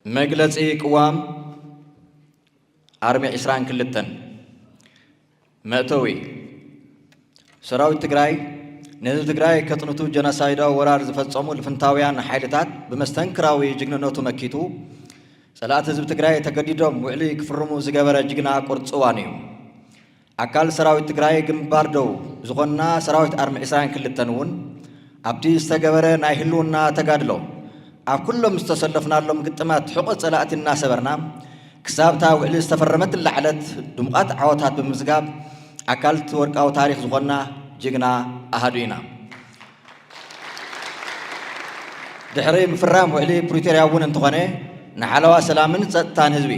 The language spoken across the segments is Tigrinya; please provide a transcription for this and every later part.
መግለጺ ቅዋም ኣርሚ ዕስራን ክልተን መእተዊ፣ ሰራዊት ትግራይ ንህዝቢ ትግራይ ከጽንቱ ጀኖሳይዳዊ ወራር ዝፈጸሙ ልፍንታውያን ሓይልታት ብመስተንክራዊ ጅግንነቱ መኪቱ ጸላእቲ ህዝቢ ትግራይ ተገዲዶም ውዕሊ ክፍርሙ ዝገበረ ጅግና ቁርጽዋን እዩ። ኣካል ሰራዊት ትግራይ ግንባር ደቡብ ዝኾንና ሰራዊት ኣርሚ ዕስራን ክልተን እውን ኣብቲ ዝተገበረ ናይ ህልውና ተጋድሎ ኣብ ኩሎም ዝተሰለፍናሎም ግጥማት ሕቖ ፀላእቲ እናሰበርና ክሳብ እታ ውዕሊ ዝተፈረመትላ ዕለት ድሙቓት ዓወታት ብምምዝጋብ ኣካልቲ ወርቃዊ ታሪኽ ዝኾንና ጅግና ኣሃዱ ኢና። ድሕሪ ምፍራም ውዕሊ ፕሪቶርያ እውን እንተኾነ ንሓለዋ ሰላምን ፀጥታን ህዝቢ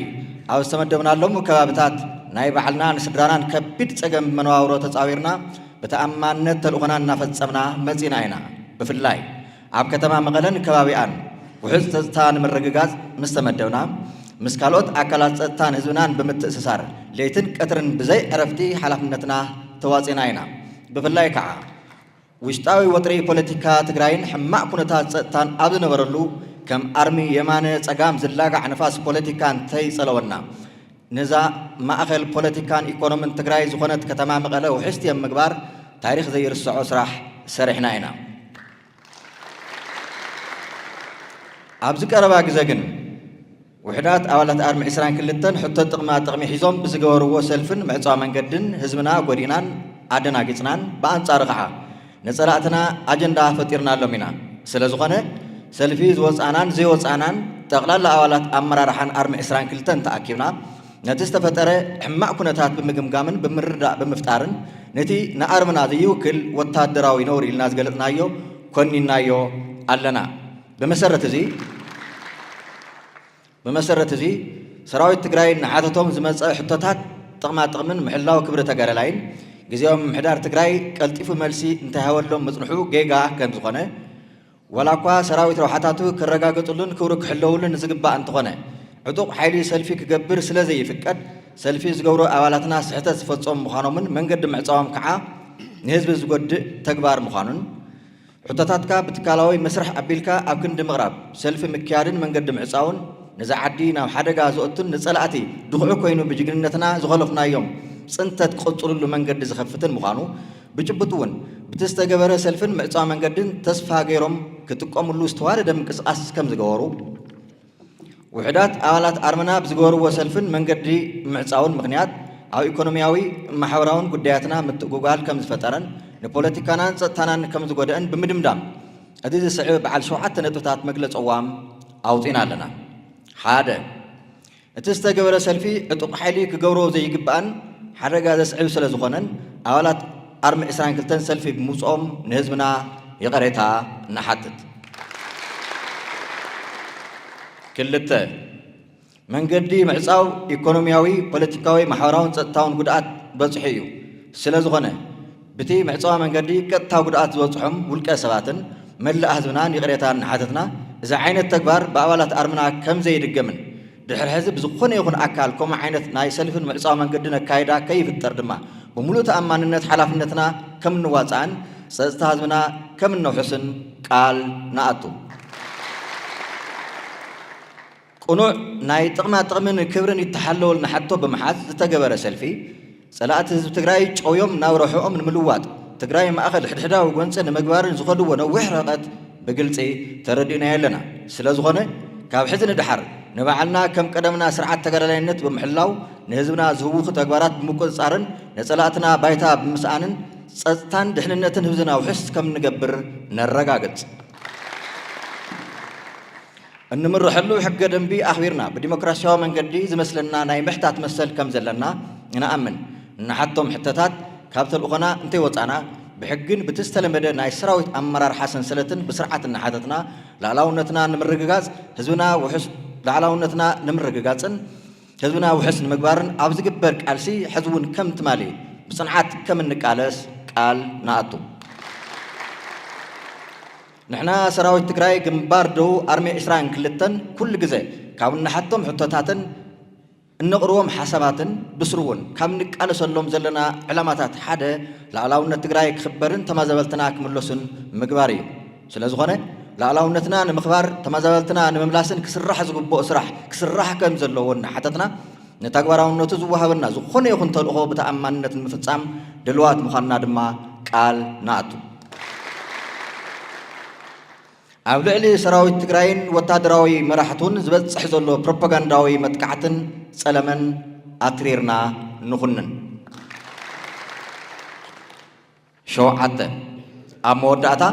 ኣብ ዝተመደብናሎም ከባብታት ናይ ባዕልና ንስድራናን ከቢድ ፀገም መነባብሮ ተፃዊርና ብተኣማንነት ተልእኾና እናፈፀምና መፂና ኢና። ብፍላይ ኣብ ከተማ መቐለን ከባቢኣን ውሑስ ፀጥታ ንምርግጋፅ ምስ ተመደብና ምስ ካልኦት ኣካላት ፀጥታን ህዝብናን ብምትእስሳር ለይትን ቀትርን ብዘይ ዕረፍቲ ሓላፍነትና ተዋፂና ኢና። ብፍላይ ከዓ ውሽጣዊ ወጥሪ ፖለቲካ ትግራይን ሕማቕ ኩነታት ፀጥታን ኣብ ዝነበረሉ ከም ኣርሚ የማነ ፀጋም ዝላጋዕ ንፋስ ፖለቲካ እንተይፀለወና ነዛ ማእኸል ፖለቲካን ኢኮኖምን ትግራይ ዝኾነት ከተማ መቐለ ውሕስቲ ኣብ ምግባር ታሪኽ ዘይርሰዖ ስራሕ ሰሪሕና ኢና። ኣብዚ ቀረባ ግዘ ግን። ውሕዳት ኣባላት ኣርሚ ዕስራን ክልተን ሕቶ ጥቕማ ጥቕሚ ሒዞም ብዝገበርዎ ሰልፍን ምዕፃው መንገድን ህዝብና ጎዲእናን ኣደናጊፅናን ብኣንፃሩ ከዓ ንፀላእትና ኣጀንዳ ፈጢርናሎም ኢና። ስለዝኾነ ሰልፊ ዝወፃእናን ዘይወፃእናን ጠቕላላ ኣባላት ኣመራርሓን ኣርሚ ዕስራን ክልተን ተኣኪብና ነቲ ዝተፈጠረ ሕማቕ ኩነታት ብምግምጋምን ብምርድዳእ ብምፍጣርን ነቲ ንኣርምና ዘይውክል ወታደራዊ ነውሪ ኢልና ዝገለፅናዮ ኮኒንናዮ ኣለና። ብመሰረት እዚ ብመሰረት እዚ ሰራዊት ትግራይ ንሓተቶም ዝመፀ ሕቶታት ጥቕማ ጥቕምን ምሕላው ክብሪ ተጋዳላይን ግዝያዊ ምምሕዳር ትግራይ ቀልጢፉ መልሲ እንተይሃበሎም ምፅንሑ ጌጋ ከምዝኾነ ዋላ እኳ ሰራዊት ረብሓታቱ ክረጋገፅሉን ክብሩ ክሕለውሉን ንዝግባእ እንተኾነ ዕጡቕ ሓይሊ ሰልፊ ክገብር ስለዘይፍቀድ ሰልፊ ዝገብሩ ኣባላትና ስሕተት ዝፈፀሙ ምዃኖምን መንገዲ ምዕፃዎም ከዓ ንህዝቢ ዝጎድእ ተግባር ምዃኑን ሕቶታትካ ብትካላዊ መስርሕ ኣቢልካ ኣብ ክንዲ ምቕራብ፣ ሰልፊ ምክያድን መንገዲ ምዕጻውን፣ ነዛ ዓዲ ናብ ሓደጋ ዘእቱን ንጸላእቲ ድኹዒ ኮይኑ ብጅግንነትና ዝኸሎፍናዮም ጽንተት ክቕጽሉሉ መንገዲ ዝኸፍትን ምዃኑ ብጭቡጥ'ውን ብቲ ዝተገበረ ሰልፍን ምዕጻው መንገድን ተስፋ ገይሮም ክጥቀሙሉ ዝተዋደደ ምንቅስቓስ ከምዝገበሩ ውሑዳት ኣባላት ኣርምና ብዝገበርዎ ሰልፍን መንገዲ ምዕጻውን ምኽንያት ኣብ ኢኮኖሚያዊ ማሕበራውን ጉዳያትና ምትእጉጓል ከም ዝፈጠረን ንፖለቲካናን ጸጥታናን ከም ዝጎደእን ብምድምዳም እዚ ዝስዕብ በዓል ሸውዓተ ነጥብታት መግለጺ ቅዋም ኣውጺእና ኣለና። ሓደ፣ እቲ ዝተገበረ ሰልፊ ዕጡቕ ሓይሊ ክገብሮ ዘይግባእን ሓደጋ ዘስዕብ ስለዝኾነን ኣባላት ኣርሚ ዕስራን ክልተን ሰልፊ ብምውጽኦም ንህዝብና ይቐሬታ ንሓትት። ክልተ፣ መንገዲ ምዕጻው ኢኮኖሚያዊ፣ ፖለቲካዊ፣ ማሕበራውን ጸጥታውን ጉድኣት በጽሑ እዩ። ስለዝኾነ ብቲ መዕጸዋ መንገዲ ቀጥታ ጉድኣት ዝበጽሖም ውልቀ ሰባትን መላእ ህዝብናን ይቕሬታ እናሓተትና እዚ ዓይነት ተግባር ብኣባላት ኣርምና ከምዘይድገምን ድሕሪ ሕዚ ብዝኾነ ይኹን ኣካል ከምኡ ዓይነት ናይ ሰልፍን ምዕጻው መንገድን ኣካይዳ ከይፍጠር ድማ ብምሉእ ተኣማንነት ሓላፍነትና ከም እንዋጻእን ጸጽታ ህዝብና ከም እነውሕስን ቃል ንኣቱ። ቅኑዕ ናይ ጥቕማ ጥቕምን ክብርን ይተሓለወልና ሕቶ ብምሓዝ ዝተገበረ ሰልፊ፣ ፀላእቲ ህዝቢ ትግራይ ጨውዮም ናብ ረብሐኦም ንምልዋጥ ትግራይ ማእኸል ሕድሕዳዊ ጎንፂ ንምግባርን ዝኸድዎ ነዊሕ ርሕቐት ብግልፂ ተረዲእናዮ ኣለና። ስለዝኾነ ካብ ሕዚ ንደሓር ንባዕልና ከም ቀደምና ስርዓት ተጋዳላይነት ብምሕላው ንህዝብና ዝህውኹ ተግባራት ብምቁፅፃርን ነፀላእትና ባይታ ብምስኣንን ፀፅታን ድሕንነትን ህብዝና ውሕስ ከምንገብር ነረጋግፅ። እንምረሐሉ ሕገ ደንቢ ኣኽቢርና ብዲሞክራሲያዊ መንገዲ ዝመስለና ናይ ምሕታት መሰል ከም ዘለና እንኣምን፣ እንሓቶም ሕተታት ካብ ተልእኾና እንተይወፃእና ብሕጊን ብቲ ዝተለመደ ናይ ሰራዊት ኣመራርሓ ሰንሰለትን ብስርዓት እናሓተትና ላእላውነትና ንምርግጋፅ ህዝብና ውሑስ ላዕላውነትና ንምርግጋፅን ህዝብና ውሕስ ንምግባርን ኣብ ዝግበር ቃልሲ ሕዚ እውን ከም ትማሊ ብፅንዓት ከም እንቃለስ ቃል ንኣቱ። ንሕና ሰራዊት ትግራይ ግንባር ደቡብ ኣርሚ ዕስራን ክልተን ኩሉ ግዘ ካብ እንሓቶም ሕቶታትን እነቕርቦም ሓሳባትን ብስሩ እውን ካብ ንቃለሰሎም ዘለና ዕላማታት ሓደ ልኣላውነት ትግራይ ክኽበርን ተማዛበልትና ክምለሱን ምግባር እዩ። ስለዝኾነ ልኣላውነትና ንምኽባር ተማዛበልትና ንምምላስን ክስራሕ ዝግብኦ ስራሕ ክስራሕ ከምዘለዎ እናሓተትና ንተግባራውነቱ ዝወሃበና ዝኾነ ይኹን ተልእኾ ብተኣማንነት ንምፍፃም ድልዋት ምዃንና ድማ ቃል ንኣቱ። ኣብ ልዕሊ ሰራዊት ትግራይን ወታደራዊ መራሕቱን ዝበፅሕ ዘሎ ፕሮፓጋንዳዊ መጥቃዕትን ፀለመን ኣትሪርና ንኹንን። ሸውዓተ ኣብ መወዳእታ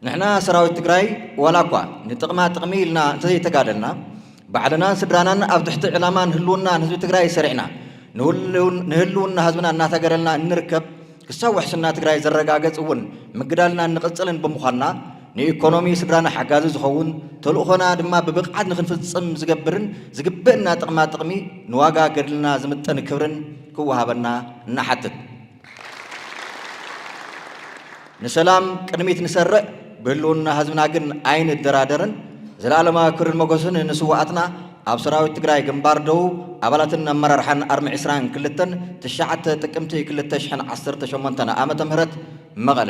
ንሕና ሰራዊት ትግራይ ዋላ እኳ ንጥቕማ ጥቕሚ ኢልና እንተዘይተጋደልና ባዕልናን ስድራናን ኣብ ትሕቲ ዕላማን ህልውናን ህዝቢ ትግራይ ሰሪዕና ንህልውና ህዝብና እናታገደልና እንርከብ ክሳብ ውሕስና ትግራይ ዝረጋገፅ እውን ምግዳልና እንቕፅልን ብምዃንና ንኢኮኖሚ ስድራና ሓጋዚ ዝኸውን ተልእኾና ድማ ብብቕዓት ንክንፍፅም ዝገብርን ዝግበእና ጥቕማ ጥቕሚ ንዋጋ ገድልና ዝምጥን ክብርን ክወሃበና እናሓትት ንሰላም ቅድሚት ንሰርዕ ብህልውና ህዝብና ግን ኣይንደራደርን። ዘለኣለማዊ ክብርን መጎስን ንስዋኣትና። ኣብ ሰራዊት ትግራይ ግንባር ደቡብ ኣባላትን ኣመራርሓን ኣርሚ ዕስራን ክልተን፣ ትሽዓተ ጥቅምቲ ክልተ ሽሕን ዓሰርተ ሸሞንተን ዓመተ ምህረት፣ መቐለ።